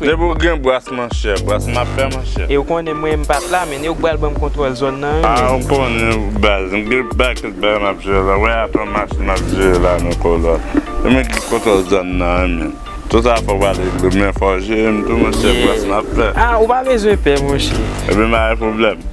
Depi ou gen bras manchè, bras map fè manchè. E ou konnen mwen m pat la men e ou k bal banm kontwòl zòn nan wi menm. A ou konnen ou baz, m gen pakèt bagay map jere la, wè apre match map jere la nan kolòn. E mwen k gen kontwòl zòn nan wi menm. Tout sa fòk wal regle men fò w jere m tou monchè bras map fè. A ou pa bezwen pè monchè. Ebyen m pa gen pwoblèm.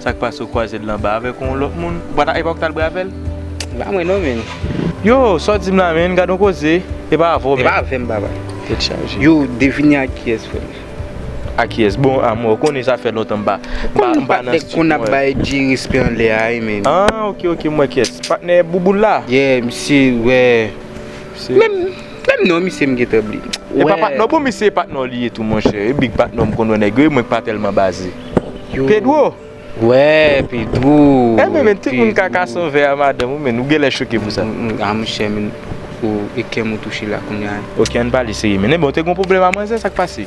Sak pase ou kwaze l anba avek yon lot moun ou pa ta epa ou k tal bwe avel. Se pa mwen non menn. Yoo sa w di m la menn gad yon koze e pa avè w menn. E pa avè m papa. Tet chaje. Yoo devine a kiyes frè m. A kiyes bon a mwen ou konnen sa fè lontan m pa m pa nan studio. Ou konnen patnè konn ap bay Jay respè anlè a wi menn. An ok ok m wè kiyes. Patnè bouboul la. Yeah misye wè. Menm non misye m gentan bliye. Epa patnè w bon misye e patnè w li ye tou monchè e big patnè w m konn wè nèg yo e mwen k pa tèlman baze Pedro wè Pedro Enben men tout moun ka kason vè a madanm ou menn ou genlè choke pou sa A monchè menn oh e kèm ou touche la kounya Ok ann pale serye menn Enben w te gon pwoblèm a manzè sa k pase.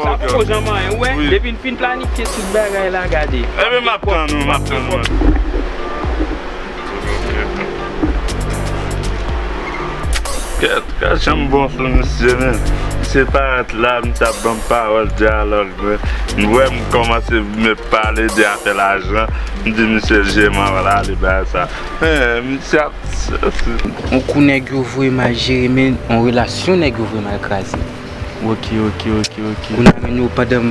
Sa poko janm anyen ou wè depi n fin planifye tout bagay la gade Ebyen map tann ou map tann ou Kèt kèt janm bon sou misye menm se pa ret la misye ap banm pawòl dyalòg mwen m wè m kòmanse me pale de afè lajan m di misye je m anvan l ale bay sa men misye ap On kou nèg yo vreman jere men on relasyon nèg yo vreman kraze. Ok ok ok ok. Moun nan renmen yo pandan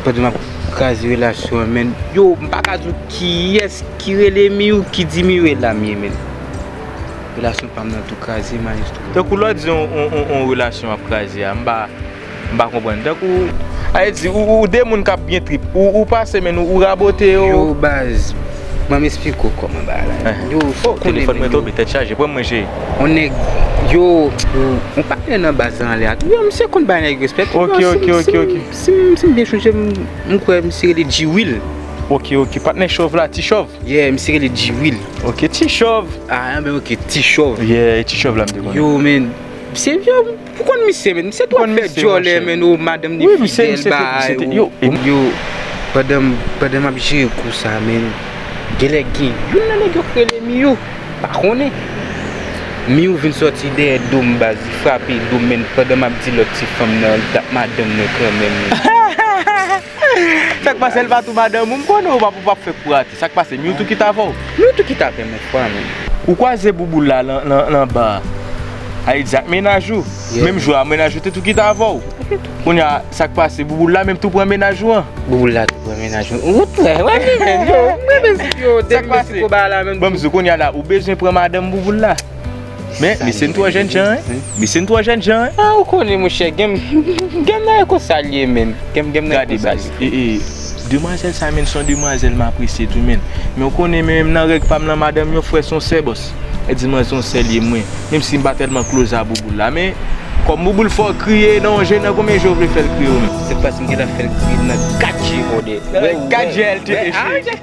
pandan map kraze relasyon an menn. Yo m paka di w kiyès ki rele Miyou ki di Miyou e lam ye menn. Relasyon pam nan tou kraze maestro. Tankou lè w di on on on relasyon ap kraze a m pa m pa konprann tankou sa vle di ou ou 2 moun kap gen trip ou pase men nou ou rabote yo. Yo baz banm esplike w kòman bagay la ye. Yo fòk ou konnen menn yo. Telefòn mwen tonbe tèt chaje pranm mwen cheri. On nèg yo on patnè nan baz lan anlè a tou. Yo misye konn bay nèg respè tou. Ok ok ok ok. Si m byen sonje m kwè misye rele G-will. Ok ok patnè chòv la ti chòv. Yeah misye rele G-will. Ok ti chòv. Ah anben ok ti chòv. Yeah e ti chòv la m te konnen. Yo men se yo. Ou konn misye menn, misye twò fè dyòlè menn o madanm li fidèl bay ou. Yo, pandan map jere kou sa menn, genlè gen youn nan nèg yo k rele Miyou, m pa konnen. Miyou vin sòti dèyè do m baz, li frape do m menn pandan map di lòt ti fanm nan li tap madanm mwen kanmenm. Sak pase lpa tou madanm ou m konnen ou pap fè kou rate sak pase Mewtou ki t avèw Mewtou ki t avèm nan ti pale ou kwaze bouboul la nan bar a li t di ak mennaj ou menm jou a mennaj ou te tou kite avèw kounya sak pase bouboul la menm tou pran mennaj ou an bouboul la tou pran mennaj ou an sak pase banm di w kounya la ou bezwen pran madanm bouboul la. Men, misye n twò jèn jan, hein? Misye n twò jèn jan, hein? Ah, ou konnen, monchè, gen gen bgay konsa l ye menm. Gen gen bgay Gade, konsa l baz. ye, frè. E, e, demwazèl sa menm, s on demwazèl m apresye tou menm. Men ou konnen, men menm nan règ pa m lan, madanm yon frè s on sè, bòs. E di mwen s on sè l ye, mwen. Menm si m pa tèlman kloz a bouboul la. Men, kòm bouboul fè w kriye nan yon je, nan konbyen je w vle fè l kriye ou menm? Se pas m ki ta fè l kriye nan kat je, brother. Nan kat je a l te eche.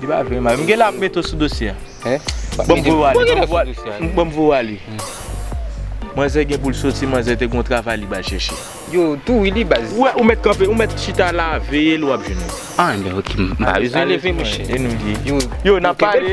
Li pa vle mal. M gen la mete w sou dosye a. Bon m voye w ale. Bon m voye w ale. Manzè gen pou l soti manzè te gen yon travay li bal chèche. Yo tou wi li baz. Ou wè ou mèt kanpe ou mèt chita la veye l wap jwenn l. An enben ok m pa bezwen leve mouche. Yo nap pale.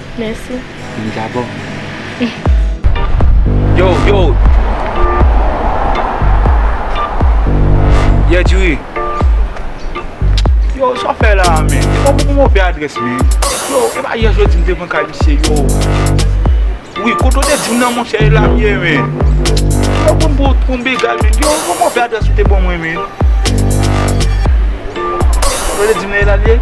Merci. Vin gabo. Yo yo Yeah diri Yo sa w fè la a men? Ou pa pou m ouvè adrès men? Yo e pa yè jodi m te pran kay misye yo Wi kote w te di m nan monchè e la m ye men Yo pou m pou pou m bgy men Yo pou m ouvè adrès ou te ban mwen men Kote w te di m nan e la l ye?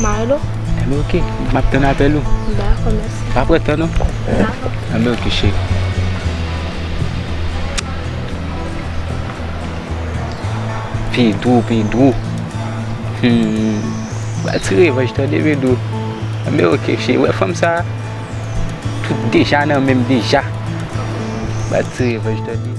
Milo. Enben ok, m ap tann apèl ou. Dakò, mèsi. Pa pran tan non. Dakò. Enben ok cheri. Pedro, Pedro. Hum. Pral ti revanj tande Pedro. Enben ok cheri, wè fanm sa a? Tout deja nan menm deja. Pral ti revanj tande.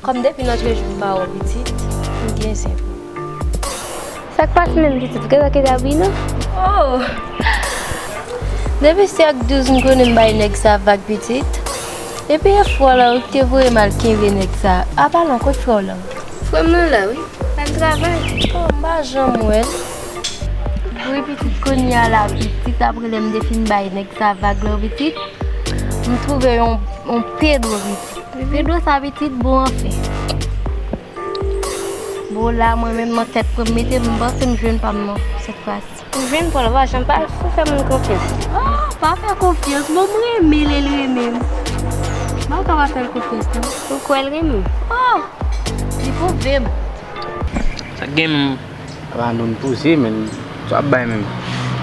Kòm depi nan jrejou m pa wè w pitit, m byen senpou. Sa k pase menm pitit, ou gen lòt eda bwi non? Oh! Depi se ak douz m konnen m bay nèg sa vag pitit. Epi e frè w lan wi k te voye m al kenbe nèg sa. A pa lan, kot frè w lan? Frè m lan la wi, l al travay. Oh, m pa janm wè l. Wi pitit, kounye a la pitit apre lè m te fin bay nèg sa vag lan pitit, m twouve yon pedro pitit. Rido sa pitit bon anfen. Bon la mwen menm nan tèt pranm mete m panse m jwenn pam nan sèt fwa si. Ou jwenn paw la pa janm pa fè moun konfyans. Ah pa fè konfyans bon m renmen lel renmenm map ka pa fèl konfyans nan. Ou kwèl renmenw. Ah li pwouvem. Sak gen. Apa nou n poze menm sa wap bay menm.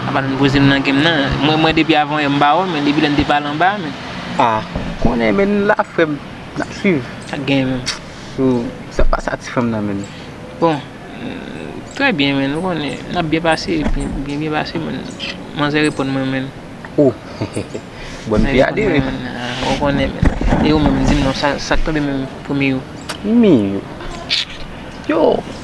Apa nou n poze m nan gem nan. Mwen mwen depi avan yè m ba wè men depi lè n te pale anba a menm. Ah konnen men nou la frèm nap swiv. Sak genyen menm. Sou sa pa satisfèm nan menm. Bon trè byen menn ou konnen nap byen pase byen byen pase menn manzè reponn mwen menn. Oh bòn pi ale menn. Manzè reponn mwen menn ah ou konnen menn. E ou menm di m non sak tonbe menm pou miyou. Miyou yo.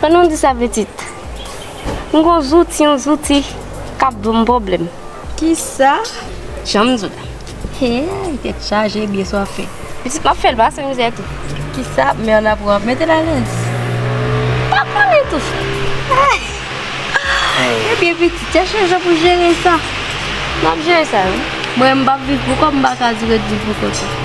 Pandan w di sa pitit, m gon zouti yon zouti k ap ban m pwoblèm. Kisa? Jan m di w la. Heyy tèt chaje byen swafe. Pitit m ap fè l pase mizè tou. Kisa ap mè w la pou w ap mete l alèz? M pa konnen tou frèt. Ebyen pitit, chèche jan pou w jere sa. M ap jere sa wi. Mwen menm m p ap viv pou kò m m pa ka di w ret viv pou kò tou.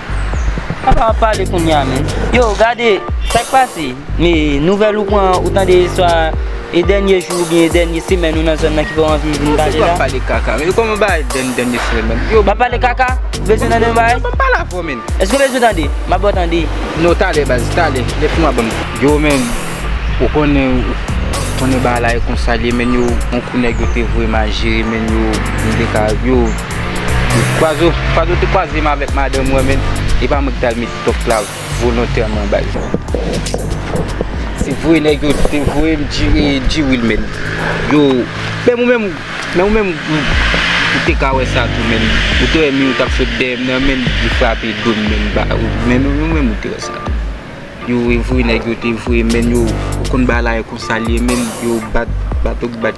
Papa ap pale kounya menn. Yo gade sak pase me nouvel ou pran ou tande swa e denye jou oubyen e denye semen ou nan zòn nan ki fè w anvi vin pale la. Yo pale kaka men yo koman bay denye denye semen. Yo pale kaka ou bezwen tande yon bagay. Yo banm pale avè w menn. Eske w bezwen tande map baw tande. Non talè baz talè lè fini wap banm. Yo menn ou konnen ou konnen bagay la e konsa l ye menn yo on kou nèg yo te voye mal jere menn yo yo. Kwazo kwazo te kwaze m avèk madanm mwen men e pa mwen ki tal met top la volontèman baz. Se vre nèg yo te voye m di e di wil men yo menm ou menm menm ou menm ou te ka wè sa tou men ou te wè mi yo tap sot dèyè m nan men yo frape do m men ba menm ou menm ou te wè sa tou. Yo we vre neg yo te vre men yo ou konn ba la e konsa li ye men yo bat bat ok bat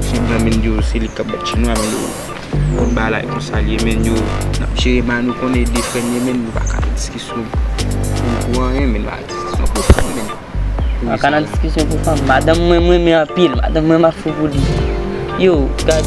Chin nan men yo se li kap bat Chin nan men yo ou konn ba la e konsa li ye men yo nap jere ma nou konn ede fre nou men nou baka nan diskisyon pou pou anyen men nan diskisyon pou fanm men Baka nan diskisyon pou fanm madanm mwen mwen men anpil madanm mwen map fou pou li yo gad.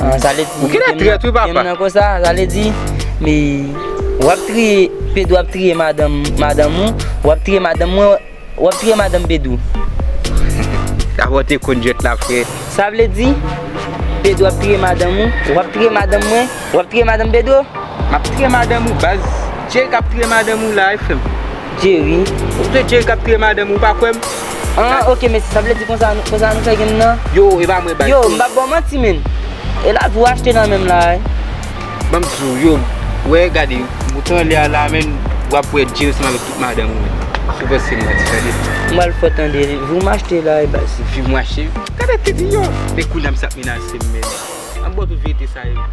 Ou genlè trèt wi papa. Menm nan konsa, sa vle di, wap triye, Pedro ap triye madanm, madanm ou, wap triye madanm mwen, wap triye madanm Pedro. Daprè w te konn jwèt la frè. Sa vle di, Pedro ap triye madanm ou, wap triye madanm mwen, wap triye madanm Pedro. Map triye madanm ou baz. Jay kap triye madanm ou la wi frè m. Jerry. Ou se Jerry kap touye madanm ou pa kwèm. An ok mesye sa vle di konsa konsa nou fè genn nan. Yo e pa mwen bay. Yo m pap baw manti menn. E la tou achte nan menm la e. Banm di w yo wè gade mouton an lè a la menn wap wè Jerry ansanm avèk tout madanm ou menn. Sou pòs se m manti tande. M bal fè w tande. Viw m achte la e baz. Viw m achte. Gade ti di yo. E kounye a misye ap menase m menn. An bon tout verite sa yo.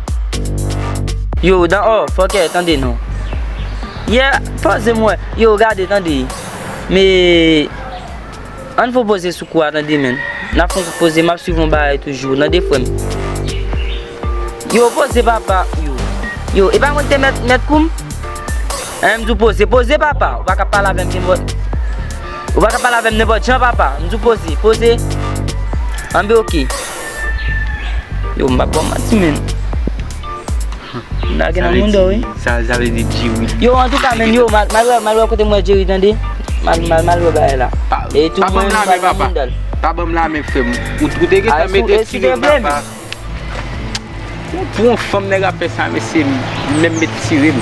Yo dan ò fòkè tande non. Yeah poze m wè. Yo gade tande. Me Ann fon poze sou kou a tande menn. Nan fon kout poze map swiv yon bagay toujou nan de frèm. Yo poze papa yo. Yo epa mwen ki te mèt mèt koum. Eeh m di w poze poze papa ou pa ka pale avèm nenpòt ou pa ka pale avèm nenpòt jan papa m di w poze poze anbe ok. Yo m pa bon manti men. Nage nan moun do wi. Sa vle di diri. Yo an tou ka men yo mal mal wè kote m wè diri tande. Mal mal wè bagay la. Pa banm la men papa. Pa banm la men frem. Ou te gen tan mete ti rim papa. Pou yon fanm nèg ap fè sa mesye menm met ti rim.